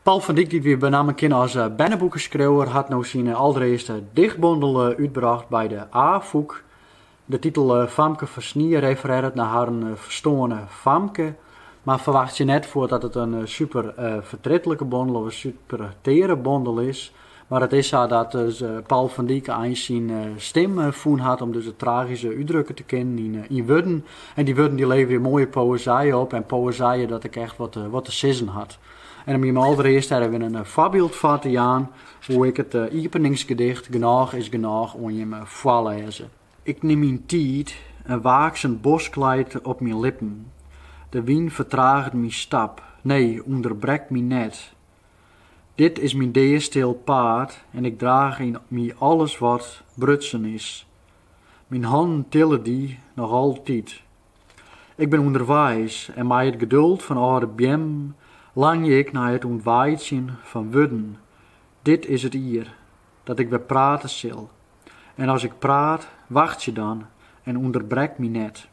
Paul van Dyk, dy't we benammen kinne as berneboekeskriuwer, hat no syn alderearste dichtbondel útbrocht by de Afûk. De titel Famke fan snie referearret nei harren ferstoarne famke. Mar ferwachtsje net foar dat it in superfertritlike bondel of in superteare bondel is. Mar it is sa dat dus Paul van Dyk eins syn stim fûn hat om dus dit tragyske útdrukke te kinnen yn wurden. En dy wurden dy leverje moaie poëzije op en poëzije dat ek echt wat te sizzen hat. En om jim alderearst dêr wer in foarbyld foar te jaan woe ik it iepeningsgedicht Genôch is genôch oan jim foarlêze. Ik nim myn tiid, in waaksen bosk leit op myn lippen. De wyn fertraget myn stap, nee, ûnderbrek my net. Dit is myn deastil paad en ik draach yn my alles wat brutsen is. Myn hannen tille dy noch altyd. Ik bin ûnderweis en mei it geduld fan âlde beammen langje ik nei it ûntweitsjen fan wurden. Dit is it jier dat ik wer prate sil en as ik praat, wachtsje dan en ûnderbrek my net.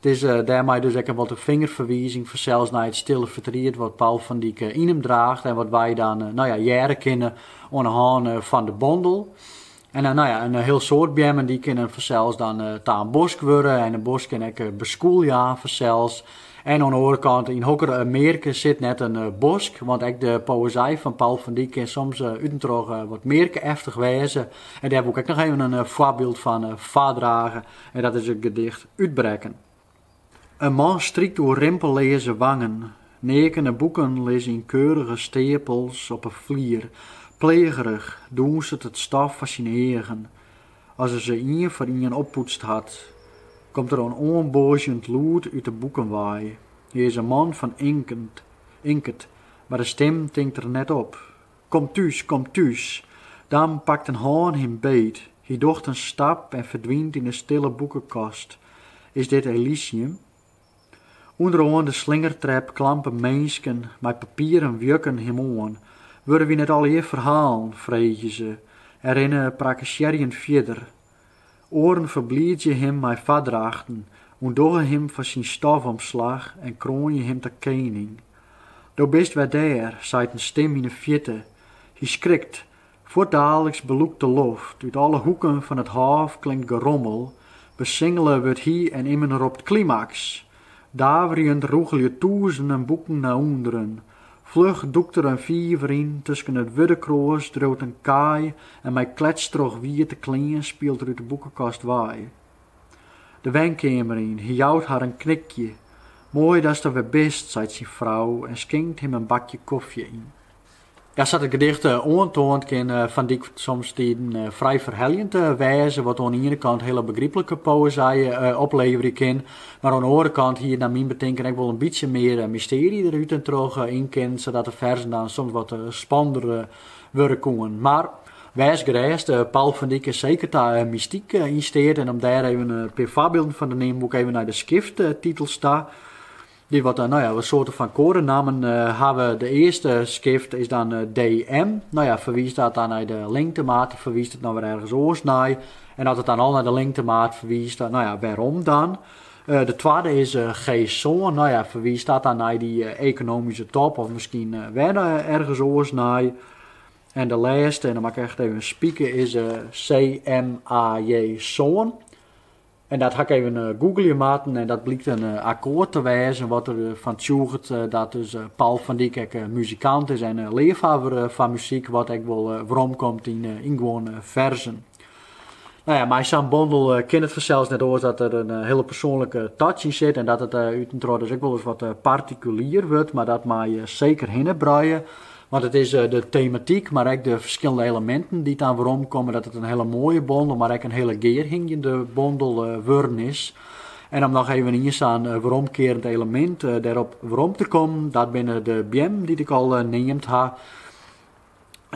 It is dêrmei dus ek wat in fingerferwizing fansels nei it stille fertriet wat Paul van Dyk yn him draacht en wat wy dan hearre kinne oan 'e hân fan de bondel. En in hiel soad beammen dy kinnen fansels dan ta in bosk wurde en in bosk kin ek beskûl jaan fansels. En oan 'e oare kant, yn hokker mearke sit net in bosk? Want ek de poëzij fan Paul van Dyk kin soms útentroch wat mearke-eftich wêze. En dêr woe ik ek noch even in foarbyld fan foardrage en dat is it gedicht Utbrekken. In man strykt oer rimpelleaze wangen, neakene boeken lizze yn keurige steapels op 'e flier. Pleagerich dûnset it stof foar syn eagen. As er se ien foar ien oppoetst hat, komt der in oanboazjend lûd út 'e boeken wei. Hy is in man fan inket, mar de stim tinkt er net op. Kom thús! Dan pakt in hân him beet. Hy docht in stap en ferdwynt yn 'e stille boekekast. Is dit Elysium? Underoan de slingertrep klampe minsken mei papieren wjukken him oan. Wurde wy net allegear ferhalen? freegje se en rinne prakkesearjend fierder. Oaren ferbliidzje him mei foardrachten, ûndogge him fan syn stofomslach en kroanje him ta kening. Do bist wer der, seit in stim yn 'e fjirte. Hy skrikt, fuortdaliks belûkt de loft, út alle hoeken fan it hôf klinkt gerommel, besingele wurdt hy en immen ropt, Klimaks! Daverjend rûgelje tûzenen boeken nei ûnderen. Fluch dûkt er in fiver yn, tusken it wurdekroas driuwt in kaai en mei kletstrochwiete klean spielt er út de boekekast wei, de wenkeamer yn, hy jout har in knikje. Moai datst der wer bist, seit syn frou en skinkt him in bakje kofje yn. Ja, sa't it gedicht oantoant kin Van Dijk somstiden frij ferheljend wêze, wat oan 'e iene kant hiele begryplike poëzij opleverje kin, mar oan 'e oare kant hie nei myn betinken ek wol in bytsje mear mystearje der útentroch yn kinnen, sadat de ferzen dan soms wat spannender wurde koenen. Mar, wês gerêst, Paul van Dijk is seker ta mystyk yn steat en om dêr even in pear foarbylden fan te neamen, woe ik even nei de skifttitels ta. Dy't wat nou ja, wat soarte fan koadenammen hawwe. De earste skift is dan DM. Nou ja, ferwiist dat dan nei de lingtemaat of ferwiist it no wer ergens oars nei? En as it dan al nei de lingtemaat ferwiist, dan, nou ja, wêrom dan? Eh, de twadde is eh, G-sân. Nou ja, ferwiist dat dan nei dy eh, ekonomyske top of miskien wer ergens oars nei. En de lêste, en dan moat ik echt even spike, is CMAJ-sân. En dat ha ik even googelje moatten en dat blykt in akkoart te wêzen wat der fan tsjûget dat dus Paul van Dijk ek muzikant is en leafhawwer fan muzyk, wat ek wol weromkomt yn guon ferzen. Nou ja, mei sa'n bondel kin it fansels net oars dat der in hiele persoanlike touch yn sit en dat it útentroch dus ek wol ris wat partikulier wurdt, mar dat mei seker hinnebruie. Want it is de tematyk, mar ek de ferskillende eleminten dy't dan weromkomme, dat it in hele moaie bondel, mar ek in hele gearhingjende bondel wurden is. En om noch even ien sa'n weromkearend elemint dêrop werom te kommen, dat binne de beammen dy't ik al neamd ha.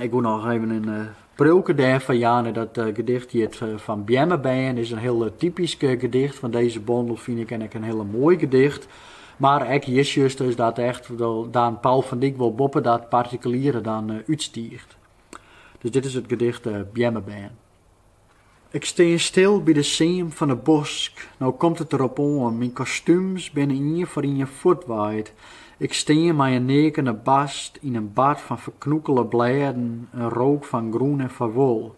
Ik woe noch even in priuwke dêrfan jaan en dat gedicht hjit fan Beammebern, is in hiel typysk gedicht fan dizze bondel fyn ik en ek in hiel moai gedicht. Mar ek hjir sjochst dus dat echt dan Paul van Dijk wol boppe dat partikuliere dan útstiicht. Dus dit is it gedicht Beammebern. Ik stean stil by de seam fan de bosk, no komt it derop oan, myn kostúms binne ien foar ien fuortwaaid, ik stean mei in neakene bast yn in bad fan ferknûkele blêden, in rook fan grûn en farwol.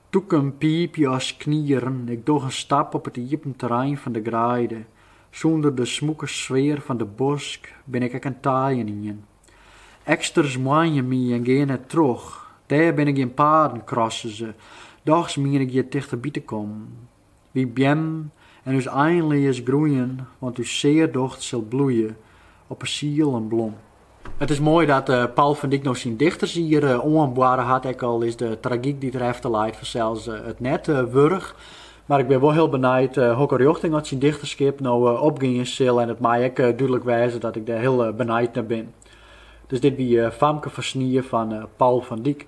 Tûken piipje as knieren, ik doch in stap op it iepen terrein fan de greide, sûnder de smûke sfear fan de bosk bin ik ek in taaien ien. Eksters moanje my en gean net troch. Dêr binne gjin paden, krasse se. Dochs mien ik hjir tichterby te kommen. Wy beammen en ús einleas groeien, want ús sear docht sil bloeie op 'e siel in blom. It is moai dat Paul van Dijk no syn dichtersier oanboarre hat, ek al is de tragyk dy't der efter leit fansels it net wurdich. Mar ik bin wol hiel benijd hokker rjochting oft syn dichterskip no opgean sil en it mei ek dúdlik wêze dat ik dêr hiel benijd nei bin. Dus dit wie Famke Farsnie fan Paul van Dyk.